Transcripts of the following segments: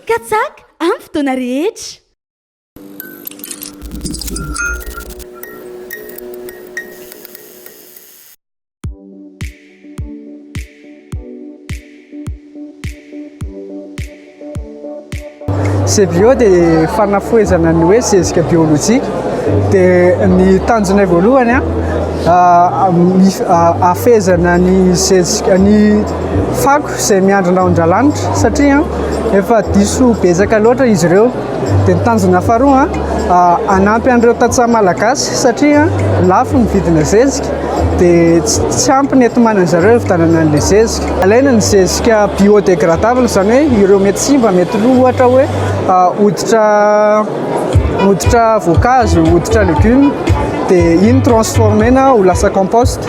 Katsaka amin'ny fotoana rehetra. Cbio dia fanafohezana ny hoe zezika biolojika dia ny tanjonay voalohany a ah, ah, ah, afezana ny zezika ny fako izay miandry rahon-dRalanitra satria efa diso betsaka loatra izy ireo. Dia ny tanjona faharoa, hanampy an'ireo tantsaha malagasy satria lafo ny vidina zezika dia tsy ampy ny enti-manana zareo hividianana an'ilay zezika. Alaina ny zezika biodegradable izany hoe ireo mety simba, mety lo ohatra hoe hoditra. Hoditra voankazo, hoditra légumes, dia iny transformer-na ho lasa compost,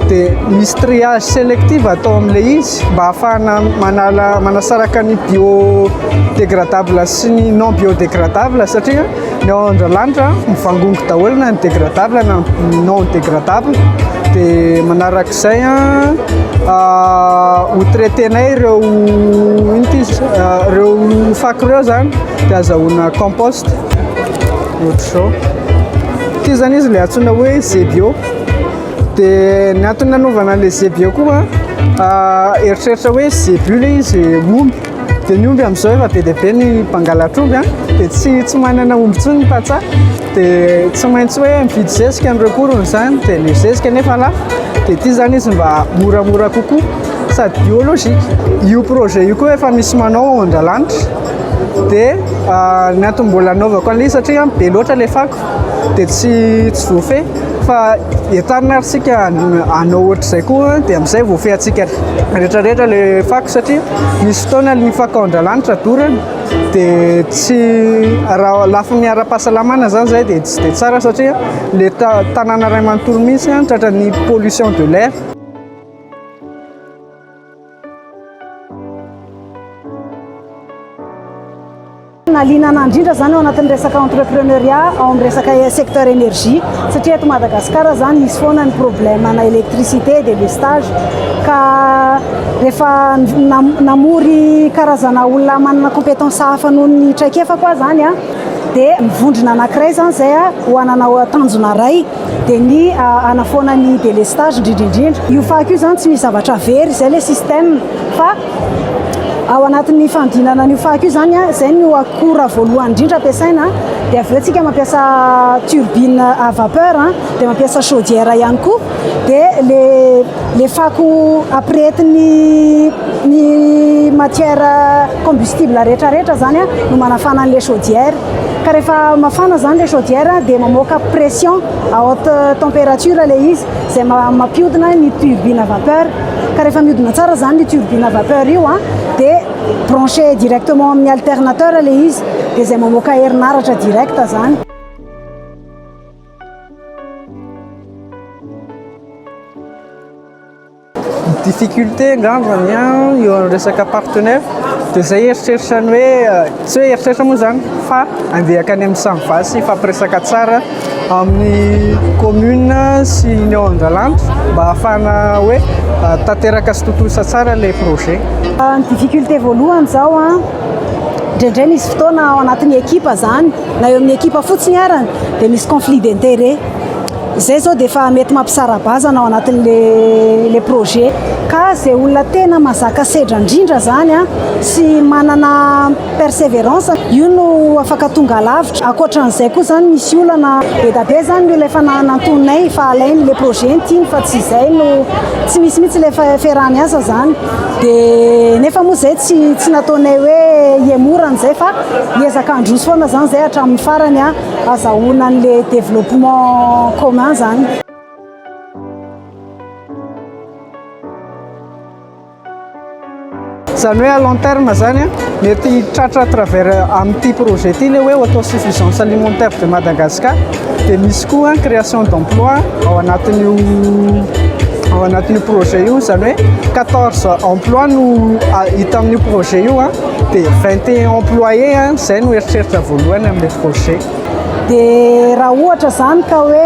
dia misy triage sélectif atao amin'ilay izy mba hahafahana manala, manasaraka ny biodégradable sy ny non biodégradable satria ny ao Andralanitra mivangongo daholo na ny dégradable na ny non dégradable, dia manaraka izay ho traiter-nay ireo inona ity izy ireo fako ireo izany. dia azahoana compost ohatr'izao ity zany izy ilay antsoina hoe zebio dia ny antony nanaovana an'ilay zebio koa ah, eritreritra hoe zebio ilay izy omby dia ny omby amin'izao efa be dia be ny mpangalatr'omby a ah. dia tsy tsy manana omby tsy ny patsa dia tsy maintsy hoe mividy zezika an'ireo korony izany dia ny zezika nefa lafo dia ity zany izy mba moramora kokoa sady biologika io projet io koa efa misy manao ao an-dalanitra Dia ny antony mbola anaovako an'ilay satria be loatra ilay fako dia tsy tsy voafehy fa entanina ary isika hanao ohatr'izay koa dia amin'izay voafehintsika rehetrarehetra ilay fako satria misy fotoana ny fako ao Andralanitra dorana dia tsy raha lafiny ara-pahasalamana izany izay dia tsy dia tsara satria ilay ta- tanàna iray manontolo mihitsy tratran'ny pollution de l'air. Nahaliana anah indrindra zany ao anatin'ny resaka entrepreneuria ao amin'ny resaka secteur énergie satria eto Madagascar zany misy foana ny problème ana électricité de lestage ka rehefa namory karazana olona manana compétence hafa noho ny traikefako aho zany dia mivondrona anankiray zany zay ho ananao tanjona iray dia ny hanafoana ny délestage indrindra indrindra. Io fako io izany tsy misy zavatra very, izay ilay système fa ao anatin'ny fandinana an'io fako io izany, izay no akora voalohany indrindra ampiasaina, dia avy eo isika mampiasa turbine à vapeur, dia mampiasa chaudière ihany koa, dia ilay fako ampirehetin'ny ny matière combustible rehetra rehetra izany no manafana an'ilay chaudière. Ka rehefa mafana izany ilay chaudière dia mamoaka pression à haute température ilay izy izay mampiodina ny turbine à vapeur. Ka rehefa miodina tsara izany io turbine à vapeur io dia branché directement amin'ny alternateur ilay izy dia izay mamoaka herinaratra direct izany. Difficulté angambany an, eo amin'ny resaka partenaire dia izay eritreritra ny hoe, tsy hoe eritreritra moa izany fa andeha hankany amin'ny Samva sy hifampiresaka tsara amin'ny commune sy ny ao Andralanitra mba ahafahana hoe tanteraka sy tontosa tsara ilay projet. Ny difficulté voalohany izao an, indraindray misy fotoana ao anatin'ny ekipa izany na eo amin'ny ekipa fotsiny arany dia misy conflit d'intérêt. Zay zao dia efa mety mampisara-bazana ao anatin'le le projet. Ka zay olona tena mazaka sedra ndrindra zany an, sy manana perseverance, io no afaka tonga lavitra. Akoatran'izay koa zany misy olana, bedabe zany ny olona efa nanantonay fa alainy le projet ny tiany fa tsy zay no, tsy misy mihitsy le fiaraha-miasa zany. Dia nefa moa zay tsy tsy nataonay hoe hiemora an'izay fa hiezaka handroso foana zany zay hatramin'ny farany an. Azahoana an'le développement commun zany. Zany hoe à long terme zany a, mety tratra à travers amin'ity projet ity le hoe autosuffisance alimentaire de Madagascar, dia misy koa an création d'emploi ao anatin'io ao anatin'io projet io, zany hoe quatorze emploi no hita amin'io projet io an. Dia 21 employés an, izay no eritreritra voalohany amin'ilay projet. Dia raha ohatra izany ka hoe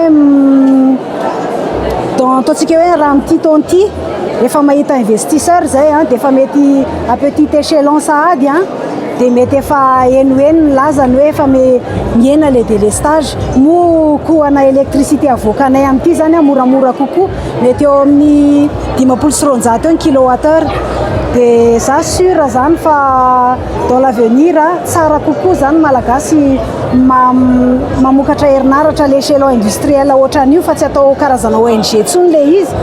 dans ataontsika hoe raha amin'ity taona ity efa mahita investisseur izay an, dia efa mety à petit échelon sahady an, dia mety efa henoheno ny lazany hoe efa mihena ilay délestage. Moa koa ana électricité avoakanay amin'ity izany an moramora kokoa. Mety eo amin'ny dimampolo sy roanjato eo ny kilowattheure. Dia za sûr zany fa dans l'avenir tsara kokoa zany Malagasy mamokatra herinaratra à l'échelon industriel ohatran'ny io fa tsy atao karazana ONG intsony ilay izy.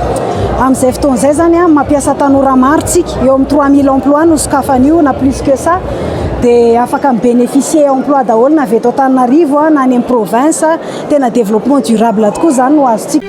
Amin'izay fotoana izay zany mampiasa tanora maro tsika, eo amin'ny trois mille emplois no sokafany io na plus que ça. Dia afaka mi-bénéficier emploi daholo na avy eto Antananarivo na any amin'ny province. Tena développement durable tokoa zany no azontsika.